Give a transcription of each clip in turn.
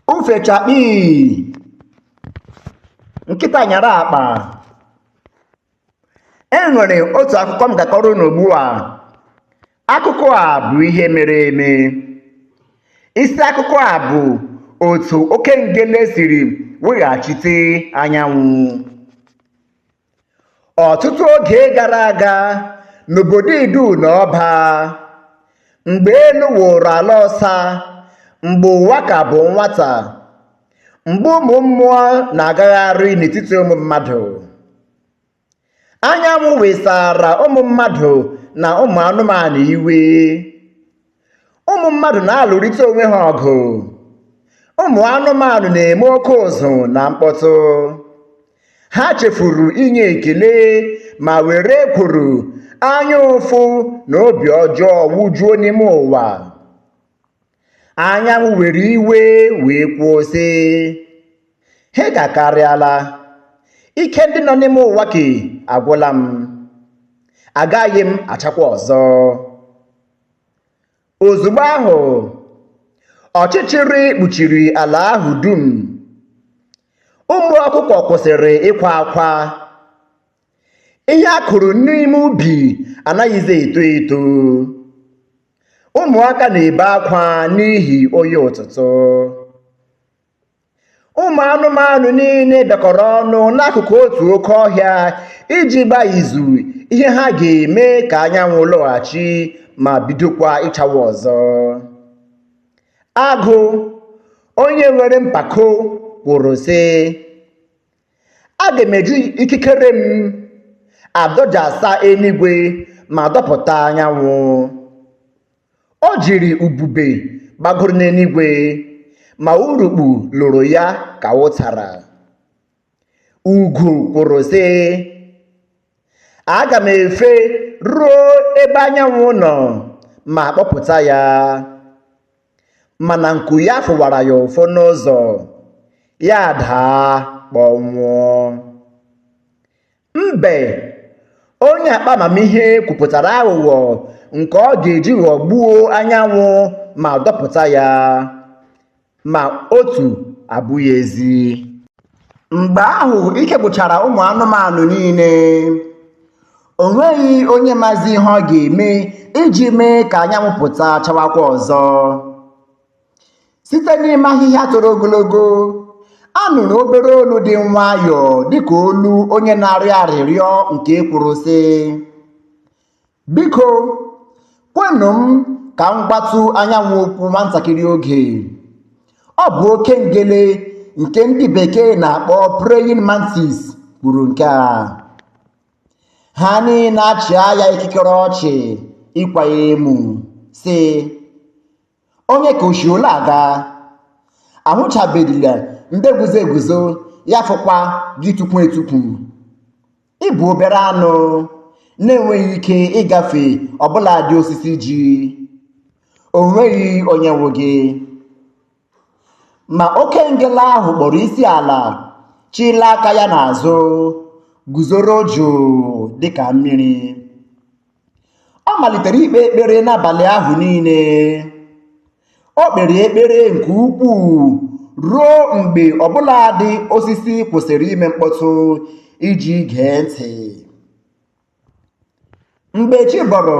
ufe chakpii nkịta nyara akpa e nwere otu akụkọ m ga-akọrọ unu ugbu a akụkọ a bụ ihe mere eme isi akụkọ a bụ otu oke ngele siri weghachite anyanwụ ọtụtụ oge gara aga n'obodo idu na ọba mgbe elu wụrụ ala ọsa mgbe ụwa ka bụ nwata mgbe ụmụ mmụọ na-agagharị n'etiti ụmụ mmadụ anyanwụ wesara ụmụ mmadụ na ụmụ anụmanụ iwe ụmụ mmadụ na-alụrịta onwe ha ọgụ ụmụ anụmanụ na-eme oke ụzụ na mkpọtụ ha chefuru inye ekele ma were ekworo anya ụfụ na obi ọjọọ wujuo n'ime ụwa anyanwụ were iwe wee kwuo sị ha gakarịala ike ndị nọ n'ime ụwa nke a agwụla m agaghị m achakwa ọzọ Ozugbo ahụ, ọchịchịrị kpuchiri ala ahụ dum. Ụmụ ọkụkọ kwụsịrị ịkwa akwa. Ihe a kụrụ n'ime ubi anaghịzi eto eto. Ụmụaka na-ebe akwa n'ihi oyi ụtụtụ. ụmụ anụmanụ niile bịakọrọ ọnụ n'akụkụ otu oke ọhịa iji gbaa izu ihe ha ga-eme ka anyanwụ lọghachi ma bidokwa ịchawa ọzọ agụ onye nwere mpako kwuru sị aga m eji ikikere m adọjasa eluigwe ma dọpụta anyanwụ O jiri ubube gbagoro n'eluigwe, ma urukpu loro ya ka ụtara. Ugo kwuru, sị, Aga m efe ruo ebe anyanwụ nọ ma kpọpụta ya. Mana nku ya fụwara ya ụfụ n'ụzọ, ya adaa kpọnwụọ. Mbe onye akpa amamihe kwupụtara aghụghọ nke ọ ga-eji ghọgbuo anyanwụ ma dọpụta ya, ma otu abụghị ezi. Mgbe ahụ ike gwụchara ụmụ anụmanụ niile. O nweghị onye mazi ihe ọ ga-eme iji mee ka anyanwụ pụta chawakwa ọzọ. site n'ime ahịhịa toro ogologo a nụrụ obere olu dị nwayọọ dịka olu onye na-arịọ arịrịọ nke kwuru sị biko kwenụ m ka m gwatụ anyanwụ okwu nwantakịrị oge ọ bụ oke ngele nke ndị bekee na-akpọ praying mantis kwuru nke a ha niile achịa ya ikikere ọchị ịkwa ya emu sị onye ka o shi ole aga a hụchabedịla ndị guzo eguzo ya fọkwa gị tukwu etukwu ị bụ obere anụ na-enweghị ike ịgafe ọbụladị osisi ji o nweghị onye nwe gị ma oke ngele ahụ kpọrọ isi ala chịla aka ya n'azụ guzoro jụụ dịka mmiri ọ malitere ikpe ekpere n'abalị ahụ niile o kpere ekpere nke ukwuu ruo mgbe ọbụladị osisi kwụsịrị ime mkpọtụ iji gee ntị mgbe chi bọrọ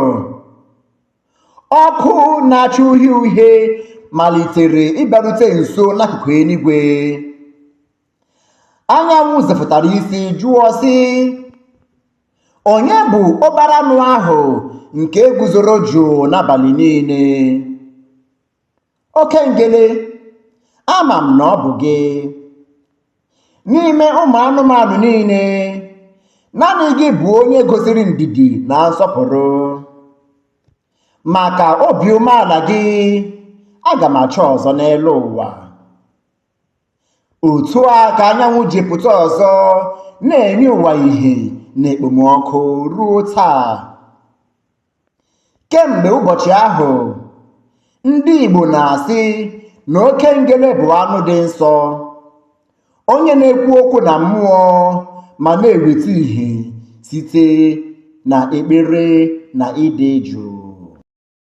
ọkụ na-acha uhie uhie malitere ịbịarute nso n'akụkụ eluigwe anyanwụ zepụtara isi jụọ sị Onye bụ obere anụ ahụ nke guzoro jụụ n'abalị niile? Oke ngele, ama m na ọ bụ gị. N'ime ụmụ anụmanụ niile, naanị gị bụ onye gosiri ndidi na nsọpụrụ. Maka obi umeala gị, aga m acha ọzọ n'elu ụwa. otu a ka anyanwụ ji pụta ọzọ na-enye ụwa ìhè na ekpomọkụ ruo taa kemgbe ụbọchị ahụ ndị Igbo na-asị na oke ngele bụ anụ dị nsọ onye na-ekwu okwu na mmụọ ma na-eweta ìhè site na ekpere na ịdị jụụ